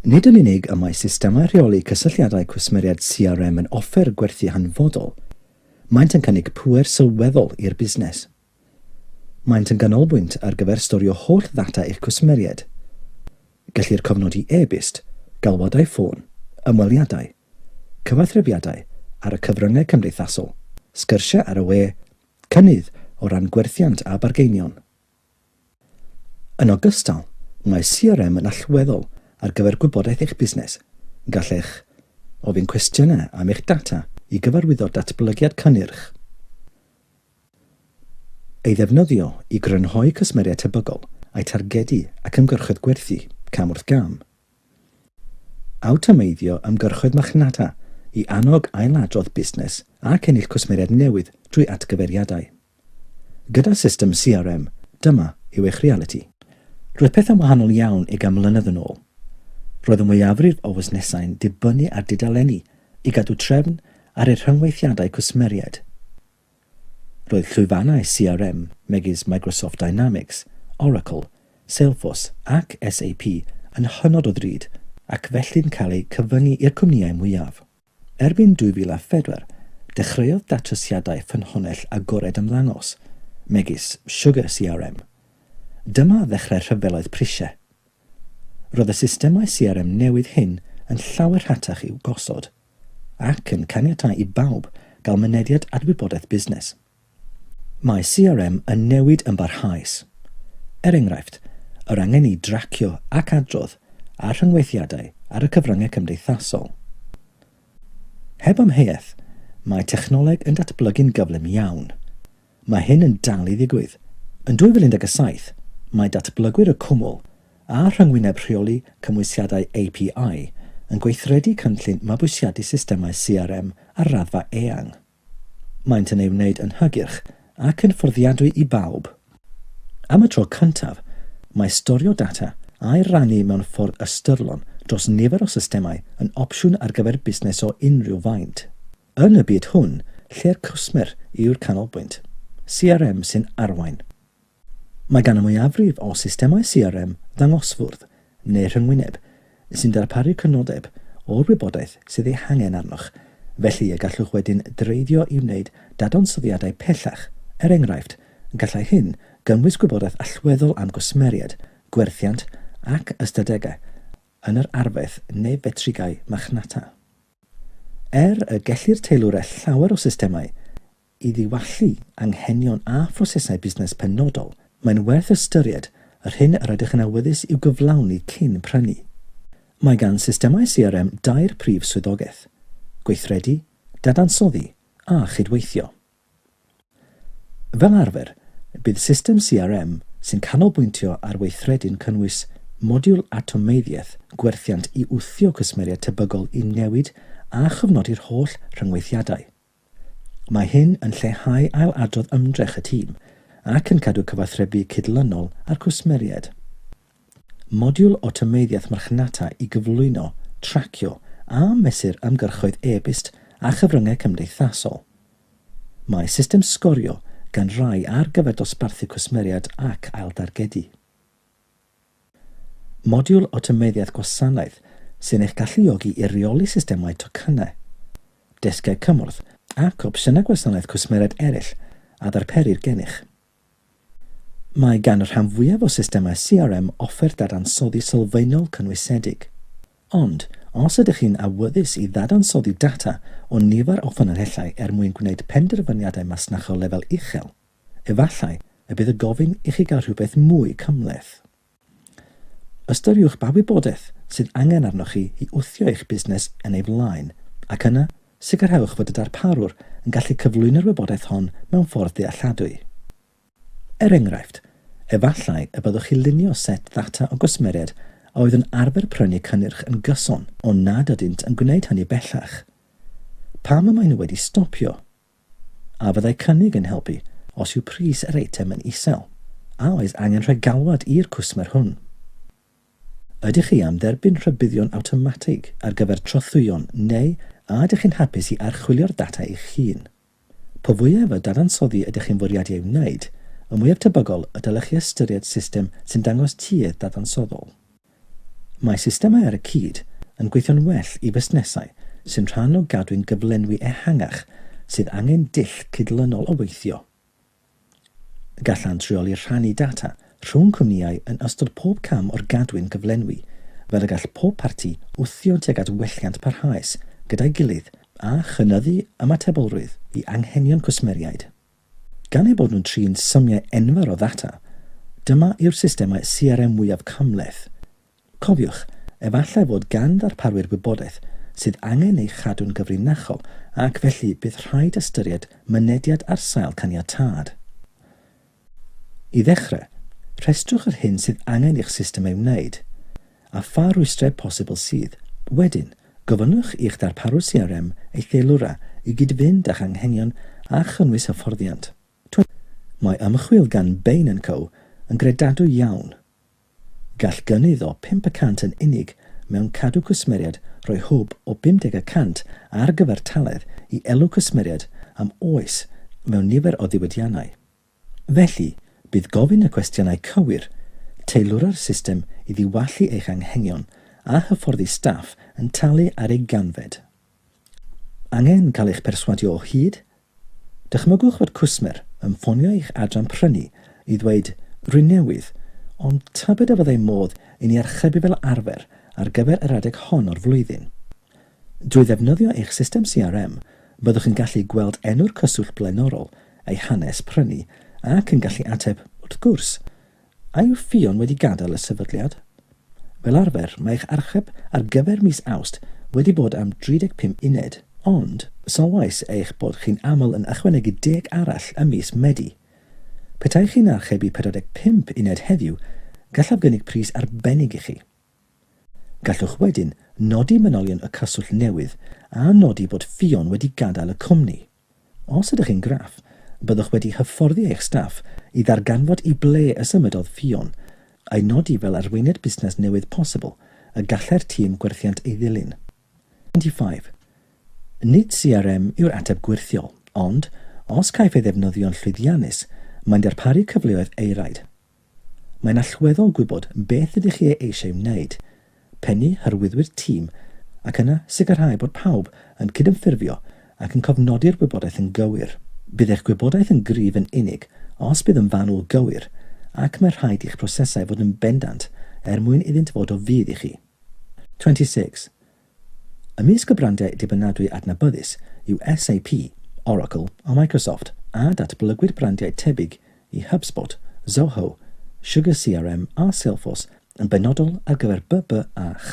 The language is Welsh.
Nid yn unig y mae systemau rheoli cysylltiadau cwsmeriaid CRM yn offer gwerthu hanfodol, maent yn cynnig pŵer sylweddol i'r busnes. Maent yn ganolbwynt ar gyfer storio holl ddata eich cwsmeriaid. Gellir cofnodi e-byst, galwadau ffôn, ymweliadau, cyfathrebiadau ar y cyfryngau cymdeithasol, sgyrsiau ar y we, cynnydd o ran gwerthiant a bargeinion. Yn ogystal, mae CRM yn allweddol ar gyfer gwybodaeth eich busnes, gallech ofyn cwestiynau am eich data i gyfarwyddo datblygiad cynnyrch, ei ddefnyddio i grynhoi cwsmeriaid tebygol, a'u targedu ac ymgyrchoedd gwerthu cam wrth gam. Awtomeiddio ymgyrchoedd marchnata i annog ailadrodd busnes ac ennill cwsmeriaid newydd drwy atgyfeiriadau. Gyda system CRM, dyma yw eich realiti. Roedd pethau'n wahanol iawn ugain mlynedd yn ôl. Roedd y mwyafrif o fusnesau'n dibynnu ar dudaleni i gadw trefn ar eu rhyngweithiadau cwsmeriaid. Roedd llwyfannau CRM megis Microsoft Dynamics, Oracle, Salesforce ac SAP yn hynod o ddrud ac felly'n cael eu cyfyngu i'r cwmnïau mwyaf. Erbyn 2004, dechreuodd datrysiadau ffynhonnell agored ymddangos, megis Sugar CRM. Dyma ddechrau'r rhyfeloedd prisiau. Roedd y systemau CRM newydd hyn yn llawer rhatach i'w gosod ac yn caniatáu i bawb gael mynediad at wybodaeth busnes. Mae CRM yn newid yn barhaus. Er enghraifft, yr angen i dracio ac adrodd ar rhyngweithiadau ar y cyfryngau cymdeithasol. Heb amheuaeth, mae technoleg yn datblygu'n gyflym iawn. Mae hyn yn dal i ddigwydd. Yn 2017, mae datblygwyr y Cwmwl a Rhyngwyneb Rheoli Cymwysiadau API yn gweithredu cynllun mabwysiadu systemau CRM ar raddfa eang. Maent yn ei wneud yn hygyrch ac yn fforddiadwy i bawb. Am y tro cyntaf, mae storio data a'i rannu mewn ffordd ystyrlon dros nifer o systemau yn opsiwn ar gyfer busnes o unrhyw faint. Yn y byd hwn, lle'r cwsmer yw'r canolbwynt, CRM sy'n arwain. Mae gan y mwyafrif o systemau CRM ddangosfwrdd, neu rhyngwyneb, sy'n darparu crynodeb o'r wybodaeth sydd ei hangen arnoch, felly y gallwch wedyn dreiddio i wneud dadansoddiadau pellach, er enghraifft, gallai hyn gynnwys gwybodaeth allweddol am gwsmeriaid, gwerthiant ac ystadegau yn yr arfaeth neu fetrigau marchnata. Er y gellir teilwra llawer o systemau i ddiwallu anghenion a phrosesau busnes penodol, mae'n werth ystyried yr hyn yr ydych yn awyddus i'w gyflawni cyn prynu. Mae gan systemau CRM dair prif swyddogaeth, gweithredu, dadansoddi a chydweithio. Fel arfer, bydd system CRM sy'n canolbwyntio ar weithredu'n cynnwys modiwl awtomeiddiaeth gwerthiant i wthio cwsmeriaid tebygol i newid a chofnodi'r holl rhyngweithiadau. Mae hyn yn lleihau ail-adrodd ymdrech y tîm ac yn cadw cyfathrebu cydlynol â'r cwsmeriaid. Modiwl o tameidiaeth marchnata i gyflwyno, tracio a mesur ymgyrchoedd e-byst a chyfryngau cymdeithasol. Mae system sgorio gan rai ar gyfer dosbarthu cwsmeriaid ac ailddargedu. Modiwl o tameidiaeth gwasanaeth sy'n eich galluogi i reoli systemau tocynnau, desgiau cymorth ac opsiynau gwasanaeth cwsmeriaid eraill a ddarperir gennych. Mae gan y rhan fwyaf o systemau CRM offer dadansoddi sylfaenol cynwysedig. Ond, os ydych chi'n awyddus i ddadansoddi data o nifer o ffynonellau er mwyn gwneud penderfyniadau masnachol lefel uchel, efallai y bydd y gofyn i chi gael rhywbeth mwy cymhleth. Ystyriwch ba wybodaeth sydd angen arnoch chi i wthio eich busnes yn ei flaen, ac yna, sicrhewch fod y darparwr yn gallu cyflwyno'r wybodaeth hon mewn ffordd dealladwy. Er enghraifft, efallai y byddwch chi lunio set ddata o gwsmeriaid a oedd yn arfer prynu cynnyrch yn gyson ond nad ydynt yn gwneud hynny bellach. Pam y maen nhw wedi stopio? A fyddai cynnig yn helpu os yw pris yr eitem yn isel? A oes angen rhoi galwad i'r cwsmer hwn? Ydych chi am dderbyn rhybuddion awtomatig ar gyfer trothwyon neu a ydych chi'n hapus i archwilio'r data eich hun? Po fwyaf o dadansoddi ydych chi'n fwriadu ei wneud, y mwyaf tebygol y dylech chi ystyried system sy'n dangos tuedd dadansoddol. Mae systemau ar y cyd yn gweithio'n well i fusnesau sy'n rhan o gadwyn gyflenwi ehangach sydd angen dull cydlynol o weithio. Gallant reoli rhannu data rhwng cwmnïau yn ystod pob cam o'r gadwyn gyflenwi, fel y gall pob parti wthio tuag at welliant parhaus gyda'i gilydd a chynyddu ymatebolrwydd i anghenion cwsmeriaid. Gan eu bod nhw'n trin symiau enfawr o ddata, dyma yw'r systemau CRM mwyaf cymhleth. Cofiwch, efallai fod gan ddarparwyr wybodaeth sydd angen ei chadw'n gyfrinachol ac felly bydd rhaid ystyried mynediad ar sail caniatâd. I ddechrau, rhestrwch yr hyn sydd angen i'ch system ei wneud, a pha rwystrau posibl sydd, wedyn, Gofynnwch i'ch darparwr CRM ei theilwra i gyd-fynd â'ch anghenion a chynnwys hyfforddiant. Mae ymchwil gan Bain and Co yn gredadwy iawn. Gall gynnydd o pump y cant yn unig mewn cadw cwsmeriaid roi hwb o 50 y cant ar gyfartaledd i elw cwsmeriaid am oes mewn nifer o ddiwydiannau. Felly, bydd gofyn y cwestiynau cywir, teilwra'r system i ddiwallu eich anghenion a hyfforddi staff yn talu ar ei ganfed. Angen cael eich perswadio o hyd? Dychmygwch fod cwsmer yn ffonio eich adran prynu i ddweud 'Rwy'n newydd, ond tybed a fyddai modd i ni archebu fel arfer ar gyfer yr adeg hon o'r flwyddyn? Drwy ddefnyddio eich system CRM, byddwch yn gallu gweld enw'r cyswllt blaenorol, eu hanes prynu, ac yn gallu ateb, wrth gwrs, A yw Ffion wedi gadael y sefydliad? Fel arfer, mae eich archeb ar gyfer mis Awst wedi bod am 35 uned, ond sylwais eich bod chi'n aml yn ychwanegu deg arall ym mis Medi. Petai chi'n archebu 45 uned heddiw, gallaf gynnig pris arbennig i chi. Gallwch wedyn nodi manylion y cyswllt newydd a nodi bod Ffion wedi gadael y cwmni. Os ydych yn graff, byddwch wedi hyfforddi eich staff i ddarganfod i ble y symudodd Ffion, a'i nodi fel arweiniad busnes newydd posibl y gallai'r tîm gwerthiant ei ddilyn. 25. Nid CRM yw'r ateb gwyrthiol, ond, os caiff ei ddefnyddio'n llwyddiannus, mae'n darparu cyfleoedd eiraid. Mae'n allweddol gwybod beth ydych chi ei eisiau wneud, pennu hyrwyddwyr tîm ac yna sicrhau bod pawb yn cydymffurfio ac yn cofnodi'r gwybodaeth yn gywir. Bydd eich gwybodaeth yn gryf yn unig os bydd yn fanwl gywir ac mae rhaid i'ch prosesau fod yn bendant er mwyn iddynt fod o fudd i chi. 26. Ymysg y brandiau dibynadwy adnabyddus yw SAP, Oracle a Microsoft, a datblygwyd brandiau tebyg i HubSpot, Zoho, Sugar CRM a Salesforce yn benodol ar gyfer BBAH.